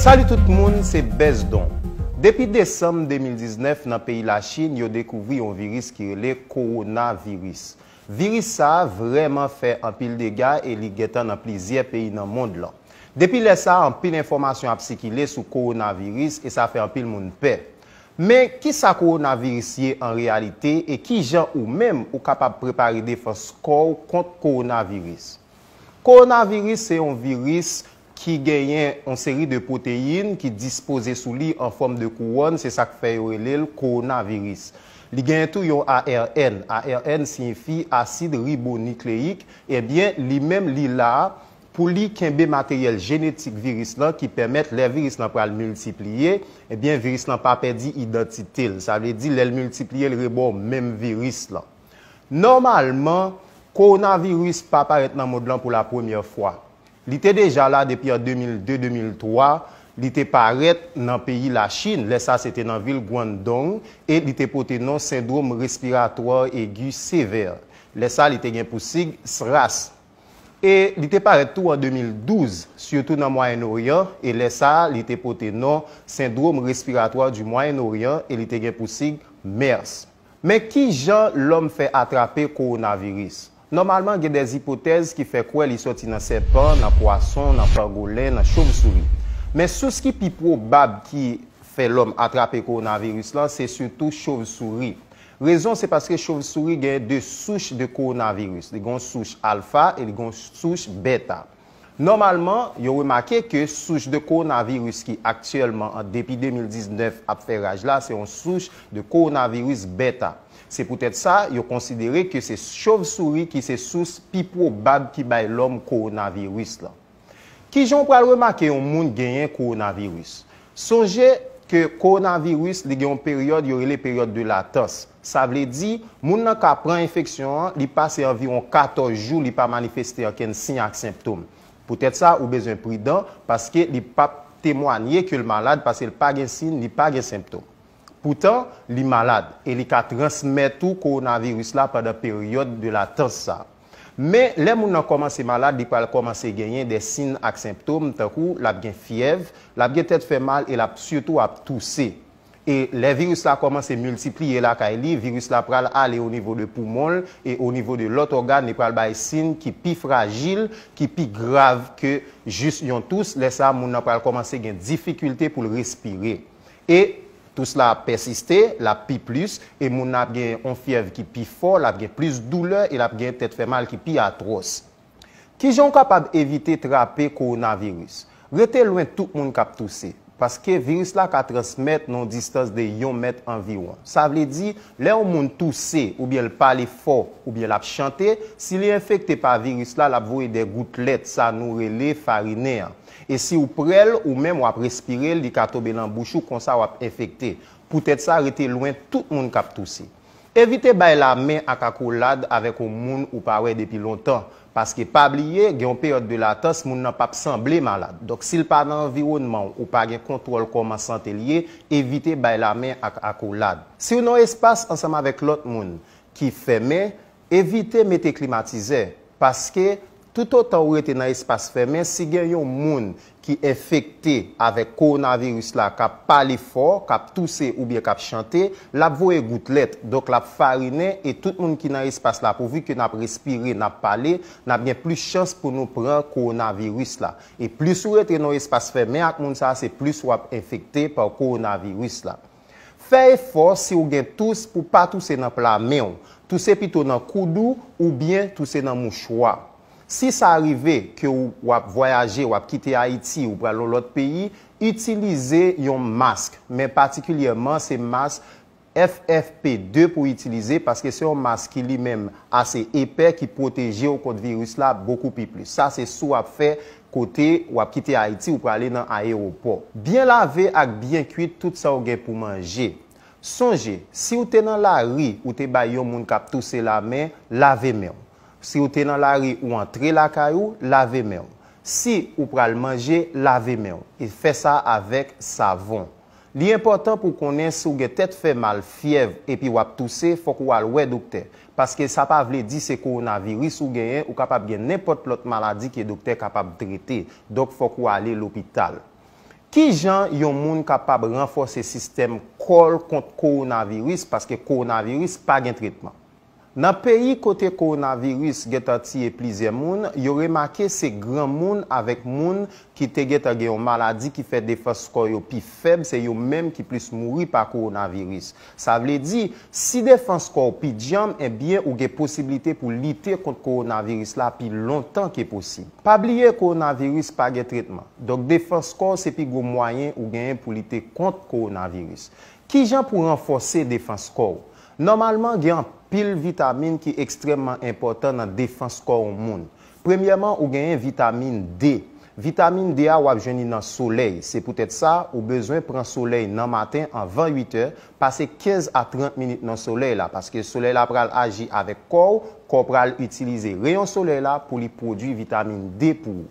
Salut tout moun se Besdon. Depi desanm 2019 nan peyi Lachin yo dekouvri yon viris ki rele Kowona viris. Viris sa vrèman fè anpil dega e li gentan nan plizyè peyi nan mond lan. Depi lè sa anpil enfòmasyon ap sikile sou Kowona viris e sa fè anpil moun pè. Men kisa Kowona viris ye an reyalite e kijan ou menm ou kapab prepare defans kò w kont Kowona viris. Kowonaviris se yon viris ki genyen yon seri de pwoteyin ki dispoze sou li an fòm de kouwòn, se sa k fè yo rele l kowonaviris. Li genyen tou yon ARN, ARN siyifi asid ribonikleyik, ebyen li menm li la pou li kenbe materyèl jenetik viris lan ki pèmèt lè viris lan pral miltipliye, ebyen viris lan pa pèdi idantite l, sa vle di lè l miltipliye l rebò menm viris lan. Nòmalman, kowonaviris pa parèt nan mond lan pou la premyè fwa. Li te deja la depi an 2002-2003, li te parèt nan peyi Lachin, lè sa se te nan vil Guangdong, e li te pote non Syndrome Respiratoire Aigu Sévère. Lè sa li te gen pou sig SRAS. E li te parèt tou an 2012, sitou nan Mwayen Oryan, e lè sa li te pote non Syndrome Respiratoire du Moyen-Orient e li te gen pou sig MERS. Men ki jan lòm fè atrape kowonaviris? Nòmalman gen dè ipotèz ki fè kwè li sòti nan sèpan, nan pwason, nan pangolen, nan chomsouri. Men sous ki pi pwobab ki fè lòm atrape kowonaviris lan se sitou chovsouri. Rezon se paske chovsouri gen de souch de kowonaviris, li gen yon souch alfa e li gen yon souch bèta. Nòmalman, yo remake ke souch de kowonaviris ki aktyèlman an depi 2019 ap fè raj la se yon souch de kowonaviris Beta. Se poutèt sa, yo konsidere ke se chovsouri ki se sous pi pwobab ki bay lòm kowonaviris lan. Kijan w pral remake yon moun genyen kowonaviris? Sonje ke kowonaviris li gen yon peryòd yo rele peryòd de latans. Sa vle di, moun nan ka pran enfeksyon an, li pase anviwon 14 jou li pa manifeste ankenn siy ak senptom. Poutèt sa, ou bezwen pridan, paske li pap temwanye ke l malad paske l pa gen siy ni pa gen senptom. Poutan, li malad e li ka transmèt ou kowonaviris la pandan peryòd de latans sa. Men, lè moun nan kòmanse malad, li pral kòmanse genyen de sin ak senptom tankou l ap gen fyèv, l ap gen tèt fè mal e l ap sitou ap touse. E lè viris la kòmanse miltipliye lakay li, viris la pral ale onivo de poumon l e onivo de lòt ògàn, li pral bay sin ki pi frajil, ki pi grav ke jis yon tous, lè sa moun nan pral kòmanse gen difikilte pou l respire. E tous la ap pèsiste, l ap pi plis, e moun nan ap gen yon fyèv ki pi fò, l ap gen plis doulè e l ap gen tèt fè mal ki pi atwòs. Ki jan w kapab evite trape kowonaviris? Rete lwen tout moun k ap touse, paske viris la ka transmèt nan yon distans de yon mèt anviwon. Sa vle di, lè yon moun touse oubyen l pale fò oubyen l ap chante, si li enfekte pa viris la, l ap voye de goutlèt, sa nou rele farinen an. E si w pre l ou menm w ap respire l li ka tobe lan bouch ou konsa w ap enfekte. Poutèt sa rete lwen tout moun k ap touse. Evite bay la men ak akolad avèk on moun ou pa wè depi lontan. Paske pa bliye gen on peryòd de latans moun nan p ap sanble malad. Donk si l pa nan anviwònman w ou pa gen kontwòl kòman sante l ye evite bay la men ak akolad. Si w nan on espas ansanm avèk lòt moun ki fèmen Evite mete klimatizè, paske toutotan ou rete nan espas fèmen si gen yon moun ki enfekte avèk kowonaviris la k ap pale fò, k ap touse oubyen k ap chante, l ap voye goutlèt, donk l ap farinen e tout moun ki nan espas la pouvi ke n ap respire, n ap pale, n ap gen plis chans pou nou pran kowonaviris la. E plis ou rete nan yon espas fèmen ak moun sa a se plis w ap enfekte pa kowonaviris la. Fè efò si w gen tous pou pa touse nan pla men w, touse pito nan koud ou oubyen touse nan mouchwa. Si sa rive ke w w ap vwayaje, w ap kite Ayiti, ou pral yon lòt peyi, itilize yon mask, men patikilyèman se mask FFP2 pou w itilize paske se yon mask ki li menm ase epè ki pwoteje w kont viris la bokou pi plis. Sa se si w ap fè Kote wap kite Ayiti ou prale nan ayewopò. Byen lave ak byen kuit tout sa ou gen pou manje. Sonje, si ou te nan lari ou te bay yon moun kap touse lamen, lave men ou. Si ou te nan lari ou antre lakay ou, lave men ou. Si ou pral manje, lave men ou. E fè sa avèk savon. Li enpòtan pou w konnen si w gen tèt fè mal, fyèv, epi w ap touse, fòk ou al wè doktè. Paske sa pa vle di se kowonaviris ou genyen, ou kapab gen nenpòt lòt maladi ke doktè kapab trete. Donk fòk ou ale lopital. Kijan yon moun kapab ranfòse sistèm kò l kont kowonaviris, paske kowonaviris pa gen tretman? Nan peyi kote kowonaviris gentan tiye plizyè moun, yo remake se granmoun avèk moun ki te gentan gen yon maladi ki fè defans kò yo pi fèb se yo menm ki plis mouri pa kowonaviris. Sa vle di, si defans kò w pi dyanm enbyen ou gen posiblite pou lite kont kowonaviris la pi lontan ke posib. Pa bliye kowonaviris pa gen tretman, donk defans kò w se pi gwo mwayen ou genyen pou lite kont kowonaviris. Kijan pou ranfòse defans kò w? Nòmalman, gen anpil vitamin ki ekstrèmman enpòtan nan defans kò yon moun. Premyèman, ou genyen vitamin D. Vitamin D a w ap jwenn li nan solèy. Se poutèt sa, ou bezwen pran solèy nan maten anvan 8 è, pase 15 a 30 minit nan solèy la, paske solèy la pral aji avèk kò w, kò w pral itilize reyon solèy la pou li pwodui vitamin D pou ou.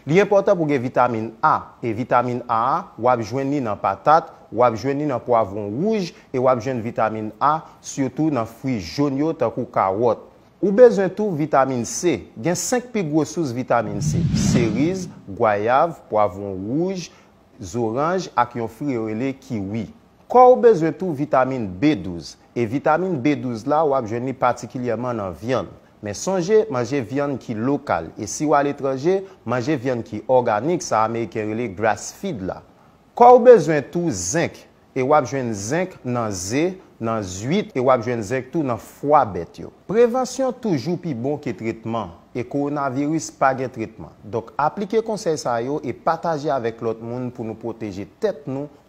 Li enpòtan pou gen vitamin A, e vitamin A a, w ap jwenn li nan patat, w ap jwenn li nan pwavwon wouj, e w ap jwenn vitamin A sitou nan fwi jón yo tankou kawòt. Ou bezwen tou vitamin C. Gen 5 pi gwo sous vitamin C, seriz, gwayav, pwavwon wouj, zoranj ak yon fri yo rele kiwi. Kò ou bezwen tou vitamin B12, e vitamin B12 la w ap jwenn li patikilyèman nan vyann, Men sonje manje vyann ki lokal e si w aletranje, manje vyann ki òganik sa ameriken rele grass feed la. Kò w bezwen tou zenk e w ap jwenn zenk nan ze, nan zwit e w ap jwenn zenk tou nan fwa bèt yo. Prevansyon toujou pi bon ke tretman e kowonaviris pa gen tretman. Donk aplike konsèy sa yo e pataje avèk lòt moun pou nou pwoteje tèt nou